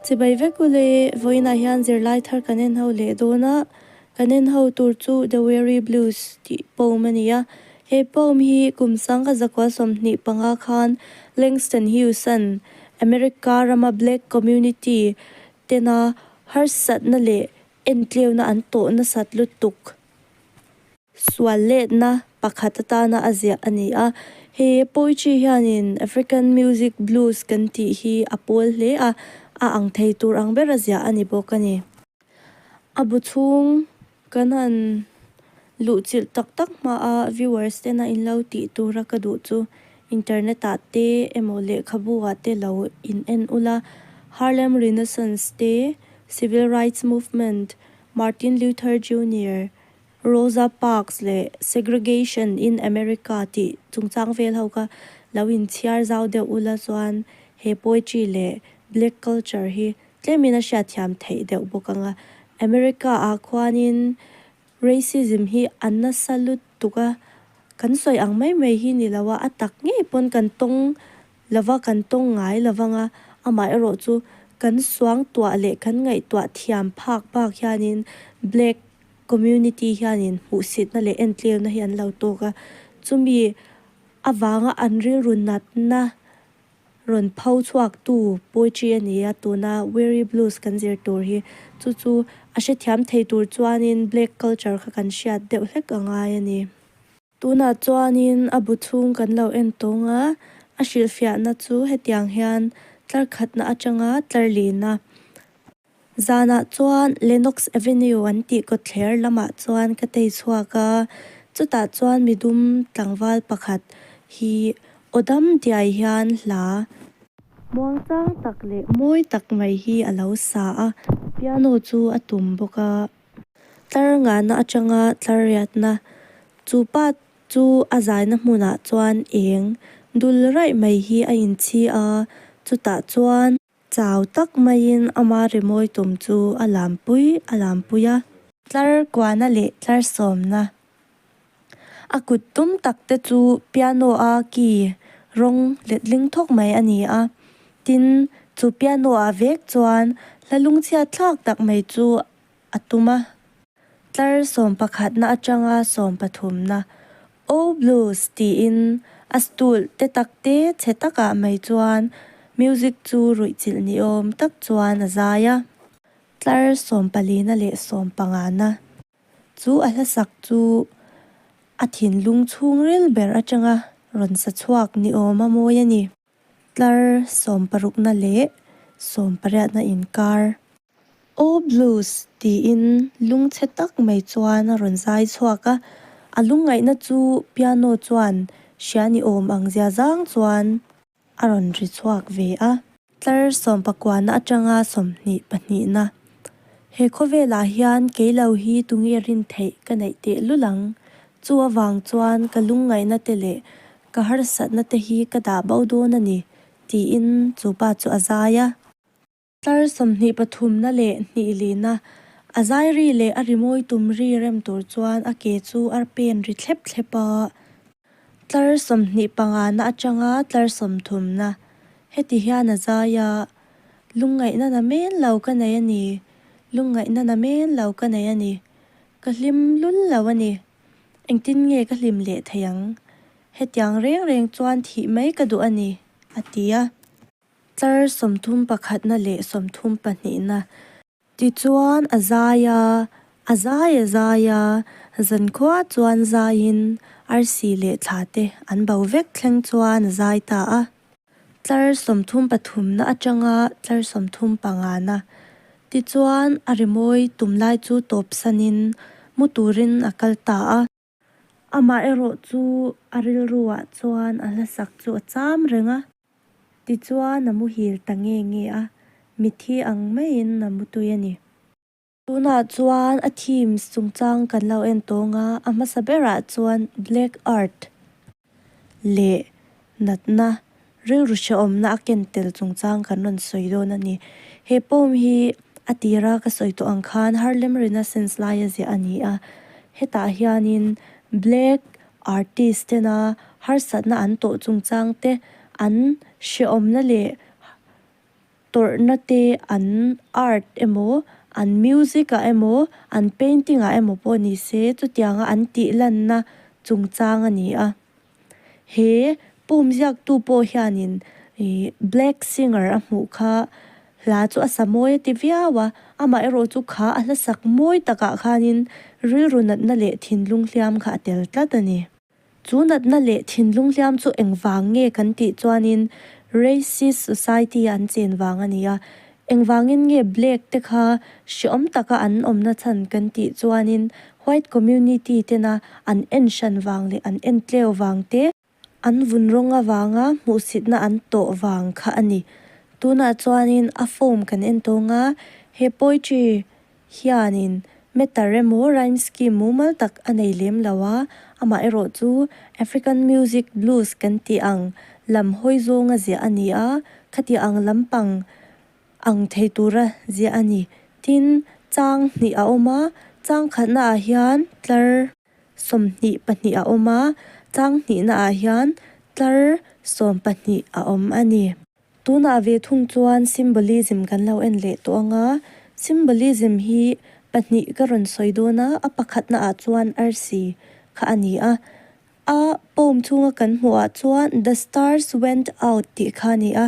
Chibai vek u le, vawiinah hian zirlai thar kan en ho leh dawn a, kan en ho tur chu The Weary Blues tih poem a ni a, he poem hi kum sang ka zakual sawmhnih panga khan Langston Hughes-a'n America rama Black Community tena harsatna leh entleuhna an tawh nasat lutuk. sual letna pakhat atana a ziah a ni a. He poetry hianin African Music Blues kan tih hi a pawl hle a, a ang thei tur ang ber a ziah a ni bawk a ni. A bu chhung kan han luhchilh tak tak hmaa viewers tena in lo tih tura ka duh chu internet ah te emaw lehkhabu ah te lo in en ula Harlem Renaissance te, Civil Rights Movement, Martin Luther Junior, Rosa Parks leh Segregation in America tih chungchang vel ho kha lo inchhiar zau deuh ula chuan he poetry leh black culture hi tlemin a hriatthiam theih deuh bawk ang a. America ah khuanin racism hi a nasa lut tuk a, kan sawi ang mai mai hi ni lo a, a tak ngei pawn kan tawng lova kan tawng ngai lovang a, amah erawh chu kan suang tuah leh kan ngaihtuah thiam phak bak hianin Black community hianin hmuhsitna leh entlirna hi an lo tawk a, chumi avanga an rilru natna rawn pho chhuaktu Puichi a ni a, tuna Weary Blues kan zir tur hi chu chu a hrethiam thei tur chuanin Black culture kha kan hriat deuh hlek a ngai a ni. Tunah chuanin a bu chhung kan lo en tawng a, a hrilhfiahna chu hetiang hian tlarkhatna atanga tlar lihna. Zanah chuan Lenox Avenue an tih kawtthler lamah chuan ka tei chhuak a, chutah chuan mi dum tlangval pakhat hi aw dam diai hian hla muangchang tak leh mawi tak mai hi a lo sa a, piano chu a tum bawk a. Tlar ngahna atanga tlar riatna, chu pa chu a zaina hmunah chuan eng dul raih mai hi a inchhi a, chutah chuan. Chau tak maiin ama rimawi tum chu a lampui a lampui a. Tlar kuahna leh tlar sawmna. A kut tum tak te chu piano-a key rawng letling thawk mai a ni a. Tin, chu piano-ah vek chuan hla lungchhiat thlak tak mai chu a tum a. Tlar sawm pakhatna atanga sawm pathumna, Oh Blues tiin a stool te tak te chhe takah mai chuan music chu ruihchilh ni awm tak chuan a zai a. Tlar sawm palina leh sawm pangana. Chu a hlasak chu a thinlung chhung rel ber atanga rawn sa chhuak ni awm a mawi a ni. Tlar sawm parukna leh sawm pariatna inkar. Aw blues tiin lung chhe tak mai chuan a rawn zai chhuak a, a lungngaihna chu piano chuan hria ni awm ang zia zang chuan. a rawn ri chhuak ve a. Tlar sawmpakuana atanga sawmhnih pahnihna. He khawvelah hian kei lo hi tunge a rin theih ka neih teh lul ang. Chu avang chuan ka lungngaihna te leh ka harsatna te hi ka dah boh dawn a ni, tiin chu pa chu a zai a. Tlar sawmhnih pathumna leh hnih lihna, a zai ri leh a rimawi tum ri rem tur chuan a ke chu a pen ri thlep thlep a. Tlar sawmhnih pangana atanga tlar sawmthumna, heti hian a zai a, Lungngaihna na men lo ka nei a ni, lungngaihna na men lo ka nei a ni, ka hlim lul lo a ni, engtin nge ka hlim leh thei ang, hetiang reng reng chuan thih mai ka duh a ni, a ti a. Tlar sawmthum pakhatna leh sawmthum pahnihna. Tichuan a zai a, a zai a zai a, zan khuaa chuan zaiin arsi leh thla te an bo vek thleng chuan a zai ta a. Tlar sawmthum pathumna atanga tlar sawmthum pangahna. Tichuan a rimawi tum lai chu tawpsanin mu turin a kal ta a. Amah erawh chu a rilru ah chuan a hlasak chu a cham reng a. Tichuan a muhil ta nge nge a, mithi ang maiin a mutui a ni. Tunah chuan a themes chungchang kan lo en tawng a, a hmasa berah chuan black art leh natna rilru hreh awmna a ken tel chungchang kan rawn sawi dawn a ni. He poem hi a tira ka sawi tawh ang khan har lemrina sense laia ziah a ni a. Hetah hianin black artist tena harsatna an tawh chungchang te an hrehawmna leh tawrhnate an art emaw, an music-ah emaw, an painting-ah emaw pawh ni se, chutianga an tih lanna chungchang a ni a. He pumziaktu pawh hianin black singer a hmuh kha hla chu a sa mawi a ti viau a, amaherawh chu kha a hla sak mawi takah khanin rilru natna leh thinlung hliam kha a tel tlat a ni. Chu natna leh thinlung hliam chu engvang nge kan tih chuanin racist society-a an chen vang a ni a. Engvangin nge black te kha hreawm taka an awmna chhan kan tih chuanin white community tena an en hran vang leh an en tleu vang te, an vun rawng avanga hmuhsitna an tawh vang kha a ni. Tunah chuanin a form kan en tawng a, he poetry hianin Meta remaw rhyme scheme mumal tak a nei lem lo a, amah erawh chu African music blues kan tih ang lam hawi zawnga ziah a ni a, khatiah ang lampang ang thei tura ziah a ni. Tin, chang hnih a awm a, chang khatnaah hian tlar sawm hnih pahnih a awm a, chang hnihnaah hian tlar sawm pahnih a awm a ni. Tunah ve thung chuan symbolism kan lo en leh tawh ang a, symbolism hi pahnih ka rawn sawi dawn a, a pakhatna ah chuan arsi kha a ni a. A poem chhunga kan hmuh ah chuan The stars went out tih kha a ni a,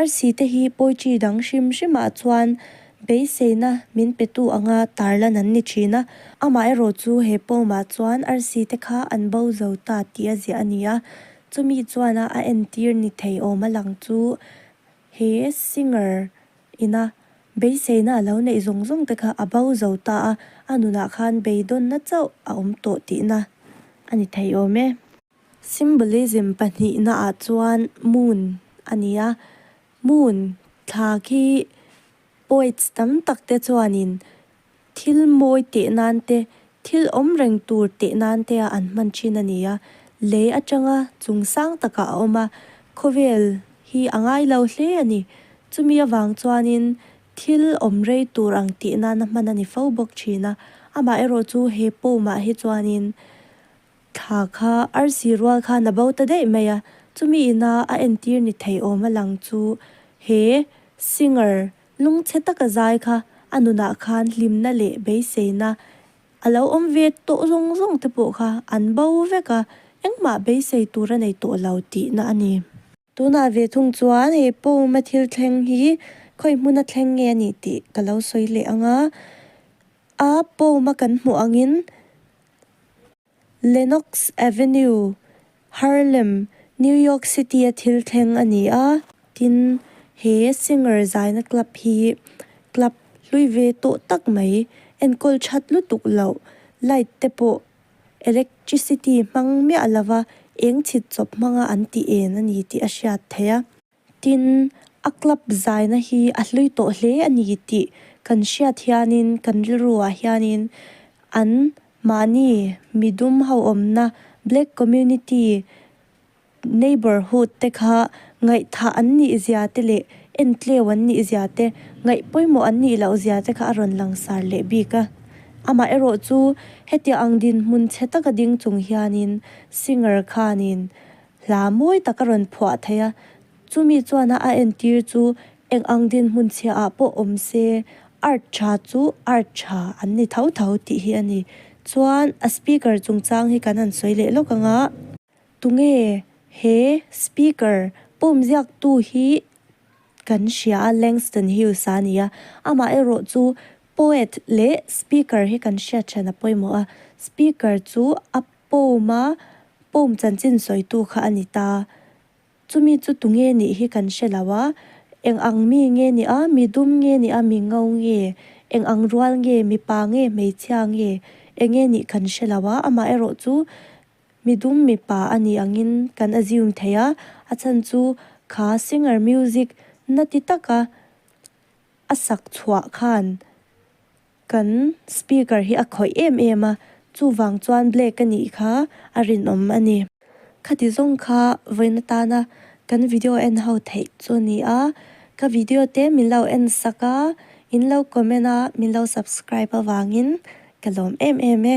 arsi te hi poetry dang hrim hrim ah chuan beiseina min pe tu anga tar lan an ni thin a, amah erawh chu he poem ah chuan arsi te kha an bo zo ta tih a ziah a ni a. Chumi chuan a a entir ni thei awm a lang chu he singer ina beiseina a lo neih zawng zawngte kha a bo zo ta a, a nunah khan beidawnna chauh a awm tawh tihna a ni thei awm e. Symbolism pahnihna ah chuan moon a ni a, moon thla khi poets tam tak te chuanin Thil mawi teh nan te, thil awm reng tur teh nan te a an hman thin a ni a. Lei atanga chung sang takah a awm a, khawvel hi a ngai lo hle a ni. Chumi avang chuanin thil awm rei tur ang teh nan a hman a ni fo bawk thin a. Amaherawh chu he pawmah hi chuanin thla kha ar si rual khan a bo ta daih mai a. Chumi ina a entir ni thei awm a lang chu he singer Lungchhe taka zai kha a nunah khan hlimna leh beiseina a lo awm ve tawh zawng zawng te pawh kha an bo vek a, engmah beisei tur a nei tawh lo tihna a ni. Tunah ve thung chuan he pawma thil thleng hi khawi hmuna thleng nge a nih tih ka lo sawi leh ang a, a pawma kan hmuh angin. Lenox Avenue, Harlem, New York City-a thil thleng a ni a. Tin, he singer zaina club hi club hlui ve tawh tak mai, enkawl that lutuk loh, light te pawh electricity hmang miah lova eng chhit chawp hmanga an ti en a ni tih a hriat theih a. Tin, a club zaina hi a hlui tawh hle a ni tih kan hriat hianin kan rilruah hianin an mahni mi dum ho awmna, Black Community Neighbourhood, te kha ngaihthah an nih zia te leh entleu an nih zia te, ngaih pawimawh an nih loh zia te kha a rawn langsar leh bik a. Amaherawhchu, hetiang dinhmun chhe taka ding chung hianin singer khanin. Hla mawi taka rawn phuah thei a, chumi chuan a entir chu eng ang dinhmun chhiahah pawh awm se, art tha chu art tha an ni tho tho tih hi a ni. Chuan a speaker chungchang hi kan han sawi leh lawk ang a, tunge he speaker pawmziaktu hi kan hria a, Langston Hughes a ni a, amaherawh chu poet leh speaker hi kan hriat ṭhian a pawimawh a, speaker chu a Pawma pawm chanchin sawitu kha a ni ta. Chumi chu tunge nih hi kan hre lo a, eng ang mi nge nia, mi dum nge nia, mi ngo nge, eng ang rual nge, mipa nge, hmeichhia nge, eng nge nih kan hre lo a, amaherawh chu mi dum mipa a nih angin kan assume thei a, a chhan chu kha singer music nati taka a sak chhuah khan Kan speaker hi a khawih em em a, chuvang chuan black a nih kha a rinawm a ni. Khati zawng kha vawiin atana kan video en ho theih chu a ni a, ka video te min lo en sak a, in lo comment a, min lo subscribe avangin ka lawm em em e.